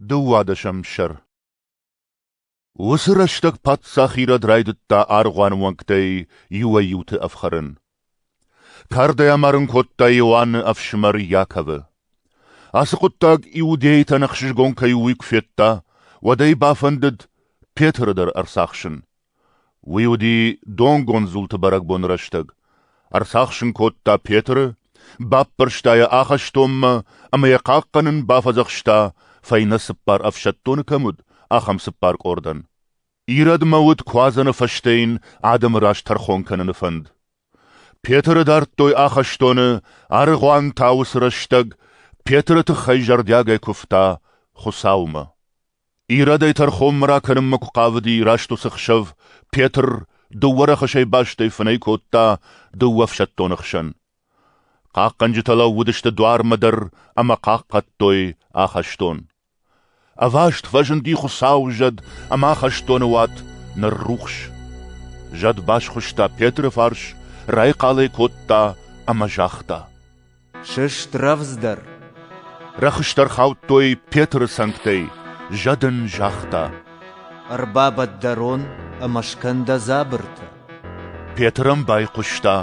Дыууадӕсӕм сӕр Уыцы рӕстӕг паддзах Ирод райдыдта аргъуаны уӕнгтӕй иуӕй-иуты ӕфхӕрын. Кардӕй амарын кодта Иоанны ӕфсымӕр Иаковы. Ацы хъуыддаг иудейтӕн ӕхсызгон кӕй у, уый куы федта, уӕд ӕй бафӕндыд Петры дӕр ӕрцахсын. Уый уыди донгонд дзулты бӕрӕгбоны рӕстӕг. Ӕрцахсын кодта Петры, баппӕрста йӕ ахӕстонмӕ ӕмӕ йӕ хъахъхъӕнын бафӕдзӕхста, фӕйнӕ цыппар ӕфсӕддоны кӕм уыд, ахӕм цыппар къордӕн. Ирӕдмӕ уыд куадзӕны фӕстӕ йын адӕмы раз тӕрхон кӕныны фӕнд. Петры дардтой ахӕстоны, аргъуан та уыцы рӕстӕг Петры тыххӕй зӕрдиагӕй куывта Хуыцаумӕ. Ирӕдӕй тӕрхонмӕ ракӕнынмӕ куы хъавыди раст уыцы хсӕв, Петр дыууӕ рӕхысӕй бастӕй фынӕй кодта дыууӕ ӕфсӕддоны хсӕн. Хъахъхъӕнджытӕ лӕууыдысты дуармӕ дӕр ӕмӕ хъахъхъӕдтой ахӕстон. Ӕваст фӕзынди Хуыцауы зӕд ӕмӕ ахӕстоны уат ныррухс. Зӕд басхуыста Петры фарс, райхъал ӕй кодта ӕмӕ загъта: Сыст рӕвдздӕр! Рӕхыстӕр хаудтой Петры цӕнгтӕй, зӕд ын загъта. Ӕрбабад дӕ рон ӕмӕ скӕн дӕ дзабыртӕ. Петр ӕм байхъуыста,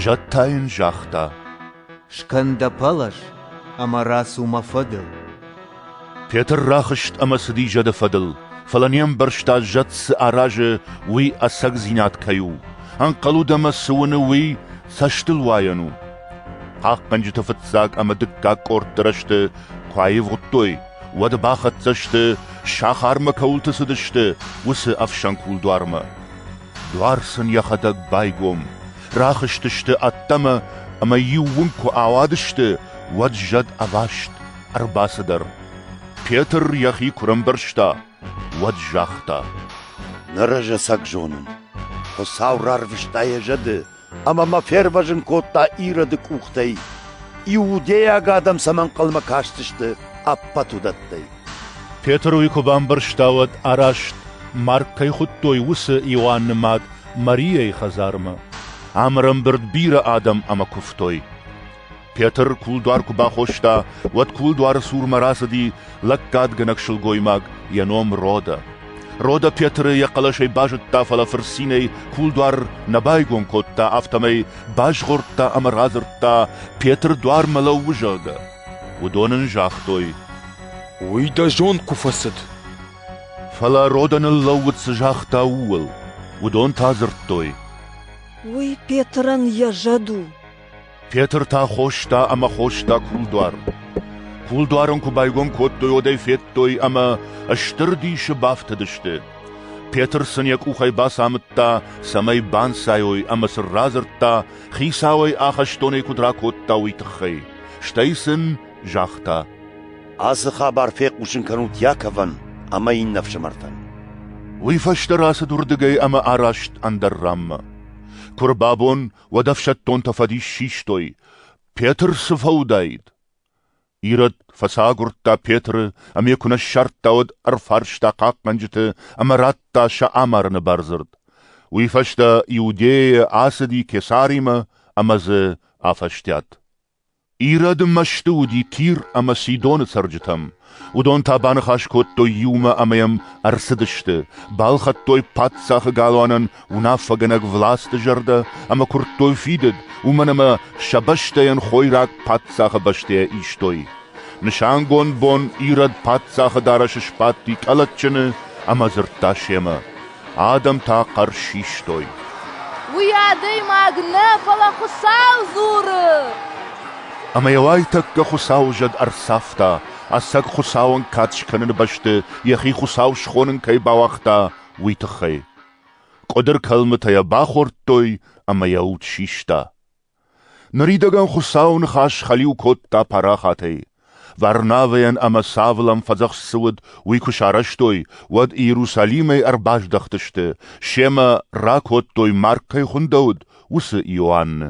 зӕд та йын загъта. Скӕн дӕ пӕлӕз ӕмӕ рацу мӕ фӕдыл. Петр рахызт ӕмӕ цыди зӕды фӕдыл, фӕлӕ не мбӕрста, зӕд цы аразы, уый ӕцӕгдзинад кӕй у, ӕнхъӕлуд ӕмӕ цы уыны, уый цӕстылуайӕн у. Хъахъхъӕнджыты фыццаг ӕмӕ дыккаг къордты рӕзты куы аивгъуыдтой, уӕд бахӕццӕ сты, сахармӕ кӕуылты цыдысты, уыцы ӕфсӕн кулдуармӕ. Дуар сын йӕхӕдӕг байгом, рахызтысты ӕддӕмӕ ӕмӕ иу уын куы ауадысты, уӕд зӕд ӕваст Ӕрбацыдӕр, Петр йӕхи куы рӕмбӕрзта, уӕд загъта: Ныр ӕз ӕцӕг зонын, Хуыцау рарвыста йӕ зӕды ӕмӕ мӕ фервӕзын кодта Ироды къухтӕй, иудейаг адӕм сӕм ӕнхъӕлмӕ кӕсдзысты ӕппӕт уыдӕттӕй. Петр уый куы бамбӕрста, уӕд араст, марг кӕй хуыдтой, уыцы Иоанны мад Марийӕйы хӕдзармӕ. Ам ӕрӕмбырд бирӕ адӕм ӕмӕ куывтой. Петр кулдуар куы бахоста, уӕд кулдуары цурмӕ рацыди лӕггадгӕнӕг сылгоймаг, йӕ ном Родо. Родо Петры йӕ хъӕлӕсӕй базыдта, фӕлӕ фырцинӕй кулдуар нӕ байгом кодта, афтӕмӕй базгъордта ӕмӕ радзырдта, Петр дуармӕ лӕууы, зӕгъгӕ. Уыдон ын загътой: «Уый дӕ зонд куы фӕцыд!» Фӕлӕ Родо ныллӕууыд цы загъта, ууыл. Уыдон та дзырдтой: «Уый Петрӕн йӕ зӕд у!» Петр та хоста ӕмӕ хоста кулдуар. Кулдуарын куы байгом кодтой, уӕдӕй федтой ӕмӕ стыр дисы бафтыдысты. Петр сын йӕ къухӕй бацамыдта, цӕмӕй банцайой ӕмӕ сын радзырдта, хицауӕй ахӕстонӕй куыд ракодта, уый тыххӕй. Стӕй сын загъта. Ацы хабар фехъусын кӕнут Яковӕн ӕмӕ иннӕ ӕфсымӕртӕн. Уый фӕстӕ рацыд уырдыгӕй ӕмӕ араст ӕндӕр ранмӕ. Куы рбабон, уӕд ӕфсӕддонтӕ фӕдис систой, Петр цы фӕуыдаид? Ирод фӕцагуырдта Петры ӕмӕ куы нӕ ссардта, уӕд ӕрфарста хъахъхъӕнджыты ӕмӕ радта сӕ амарыны бардзырд. Уый фӕстӕ Иудейӕ ацыди Кесаримӕ ӕмӕ дзы афӕстиат. Ирӕды мӕсты уыди Тир ӕмӕ Сидоны цӕрджытӕм. Уыдон та баныхас кодтой иумӕ ӕмӕ йӕм ӕрцыдысты, балхӕдтой паддзахы галуанӕн уынаффӕгӕнӕг власты зӕрдӕ ӕмӕ куырдтой фидыд, уымӕн ӕмӕ сӕ бӕстӕйӕн хойраг паддзахы бӕстӕйӕ истой. Нысангонд бон Ирод паддзахы дарӕсы сбадти къӕлӕтджыны ӕмӕ дзырдта семӕ: Адӕм та хъӕр систой. Уый адӕймаг нӕ, фӕлӕ Хуыцау дзуры! Ӕмӕ йӕ уайтӕккӕ Хуыцауы зӕд ӕрцавта, ӕцӕг Хуыцауӕн кад скӕныны бӕсты йӕхи Хуыцау схонын кӕй бауагъта, уый тыххӕй. Къуыдыр кӕлмытӕ йӕ бахордтой ӕмӕ йӕ уд систа. Ныридӕгӕн Хуыцауы ныхас хӕлиу кодта парахатӕй. Варнавӕйӕн ӕмӕ Савлӕн фӕдзӕхст цы уыд, уый куы сарӕзтой, уӕд Иерусалимӕй ӕрбаздӕхтысты, семӕ ракодтой, Марк кӕй хуындӕуыд, уыцы Иоанны.